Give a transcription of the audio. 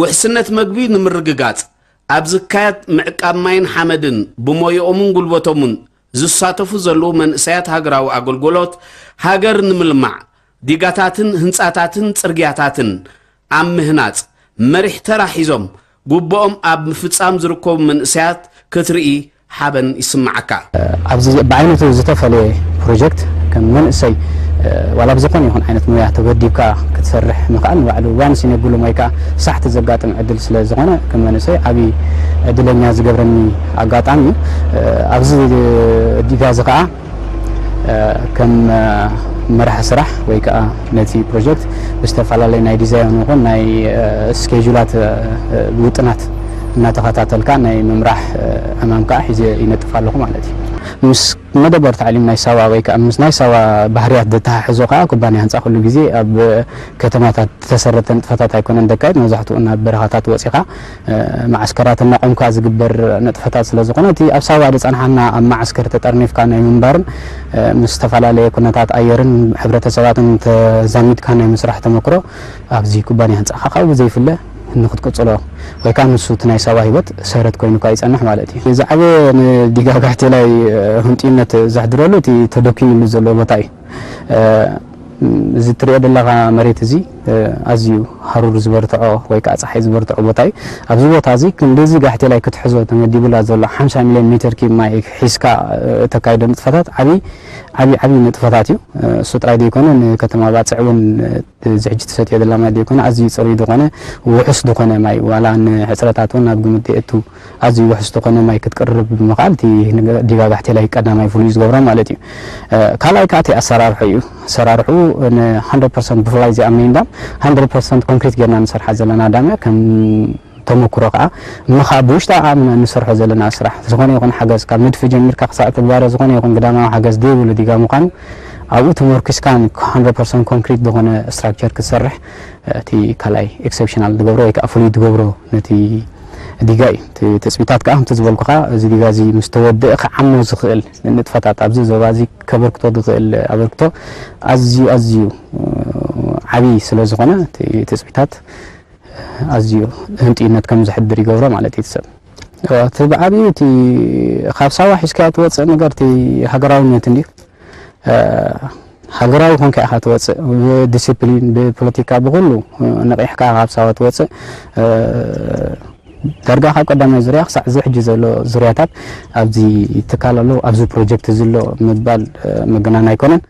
ውሕስነት መግቢ ንምርግጋፅ ኣብ ዝካየድ ምዕቃብ ማይን ሓመድን ብሞየኦምን ጉልበቶምን ዝሳተፉ ዘለዉ መንእሰያት ሃገራዊ ኣገልጎሎት ሃገር ንምልማዕ ዲጋታትን ህንፃታትን ፅርግያታትን ኣብ ምህናፅ መሪሕ ተራ ሒዞም ጉበኦም ኣብ ምፍፃም ዝርከቡ መንእሰያት ክትርኢ ሓበን ይስመዓካ። ኣብዚ ብዓይነቱ ዝተፈለየ ፕሮጀክት ከም መንእሰይ ዋላ ብዝኾነ ይኹን ዓይነት ሞያ ተወዲብካ ክትሰርሕ ምኽኣል ንባዕሉ ዋንስ ኢን ብሉ ሞይ ከኣ ሳሕቲ ዘጋጥም ዕድል ስለ ዝኾነ ከም መንእሰይ ዓቢ ዕድለኛ ዝገብረኒ ኣጋጣሚ እዩ። ኣብዚ ዲጋዚ ከኣ። ከም መራሒ ስራሕ ወይ ከኣ ነቲ ፕሮጀክት ብዝተፈላለየ ናይ ዲዛይን ይኹን ናይ ስኬጁላት ውጥናት እናተኸታተልካ ናይ ምምራሕ ዕማም ከኣ ሒዘ ይነጥፍ ኣለኹ ማለት እዩ። ምስ መደበር ታዕሊም ናይ ሳዋ ወይ ከኣ ምስ ናይ ሳዋ ባህርያት ዘተሓሕዞ ከኣ ኩባንያ ህንጻ ኩሉ ግዜ ኣብ ከተማታት ዝተሰረተ ንጥፈታት ኣይኮነን ዘካይድ፣ መብዛሕትኡ ናብ በረኻታት ወጺኻ መዓስከራት እናቖምካ ዝግበር ንጥፈታት ስለ ዝኾነ እቲ ኣብ ሳዋ ዝጸንሓና ኣብ መዓስከር ተጠርኒፍካ ናይ ምንባርን ምስ ዝተፈላለየ ኩነታት ኣየርን ሕብረተሰባትን ተዛሚድካ ናይ ምስራሕ ተመክሮ ኣብዚ ኩባንያ ህንጻኻ ካብኡ ብዘይፍለ ንክትቅጽሎ ወይ ከኣ ንሱ እቲ ናይ ሳዋ ህይወት ሰረት ኮይኑካ ይጸንሕ ማለት እዩ። ዝዓበየ ንዲጋ ጋሕቴላይ ህንጡይነት ዘሕድረሉ እቲ ተደኲንሉ ዘሎ ቦታ እዩ። እዚ እትርእዮ ዘለኻ መሬት እዚ ኣዝዩ ሃሩር ዝበርትዖ ወይ ከኣ ጸሓይ ዝበርትዖ ቦታ እዩ። ኣብዚ ቦታ እዚ ክንድዚ ጋሕቴላይ ክትሕዞ ተመዲቡላ ዘሎ ሓምሳ ሚልዮን ሜተር ኪዩብ ማይ ሒዝካ እተካይዶ ንጥፈታት ዓቢ ዓቢ ዓቢ ንጥፈታት እዩ። እሱ ጥራይ ደይኮነ ንከተማ ባጽዕ እውን እዚ ሕጂ ትሰትዮ ዘላ ማይ ደይኮነ ኣዝዩ ጽሩይ ዝኾነ ውሑስ ዝኾነ ማይ ዋላ ንሕጽረታት እውን ኣብ ግምት ደየእቱ ኣዝዩ ውሑስ ዝኾነ ማይ ክትቅርብ ብምኽኣል እቲ ዲጋ ጋሕቴላይ ቀዳማይ ፍሉይ ዝገብሮ ማለት እዩ። ካልኣይ ከኣ እቲ ኣሰራርሑ እዩ። ኣሰራርሕኡ ን ሃንድረድ ፐርሰንት ብፍላይ እዚኣ ሜይን ዳም ሃንድረድ ፐርሰንት ኮንክሪት ጌርና ንሰርሓ ዘለና ዳም እያ። ከም ተመኩሮ ከኣ ምኻ ብውሽጣ ኣምና ንሰርሖ ዘለና ስራሕ ዝኾነ ይኹን ሓገዝ ካብ ንድፊ ጀሚርካ ክሳዕ ትግባረ ዝኾነ ይኹን ግዳማዊ ሓገዝ ደይብሉ ዲጋ ምዃኑ ኣብኡ ተመርኲስካ ን ሃንድረድ ፐርሰንት ኮንክሪት ዝኾነ ስትራክቸር ክትሰርሕ እቲ ካልኣይ ኤክሰፕሽናል ዝገብሮ ወይ ከኣ ፍሉይ ዝገብሮ ነቲ ዲጋ እዩ። እቲ ትጽቢታት ከኣ ከምቲ ዝበልኩኻ እዚ ዲጋ እዚ ምስ ተወድእ ክዓሞ ዝኽእል ንንጥፈታት ኣብዚ ዞባ እዚ ከበርክቶ ዝኽእል ኣበርክቶ ኣዝዩ ኣዝዩ ዓቢ ስለ ዝኾነ እቲ ትጽቢታት ኣዝዩ ህንጥዩነት ከም ዘሕድር ይገብሮ ማለት እዩ እቲ ሰብ እቲ ብዓቢኡ እቲ ካብ ሳዋ ሒዝካዮ ትወጽእ ነገር እቲ ሃገራውነት እንድዩ ሃገራዊ ኮንካ ኢኻ ትወጽእ ብዲሲፕሊን ብፖለቲካ ብኹሉ ነቒሕካ ካብ ሳዋ ትወጽእ ዳርጋ ካብ ቀዳማይ ዙርያ ክሳዕ እዚ ሕጂ ዘሎ ዙርያታት ኣብዚ ትካል ኣሎ ኣብዚ ፕሮጀክት እዚ ኣሎ ምባል መገናን ኣይኮነን።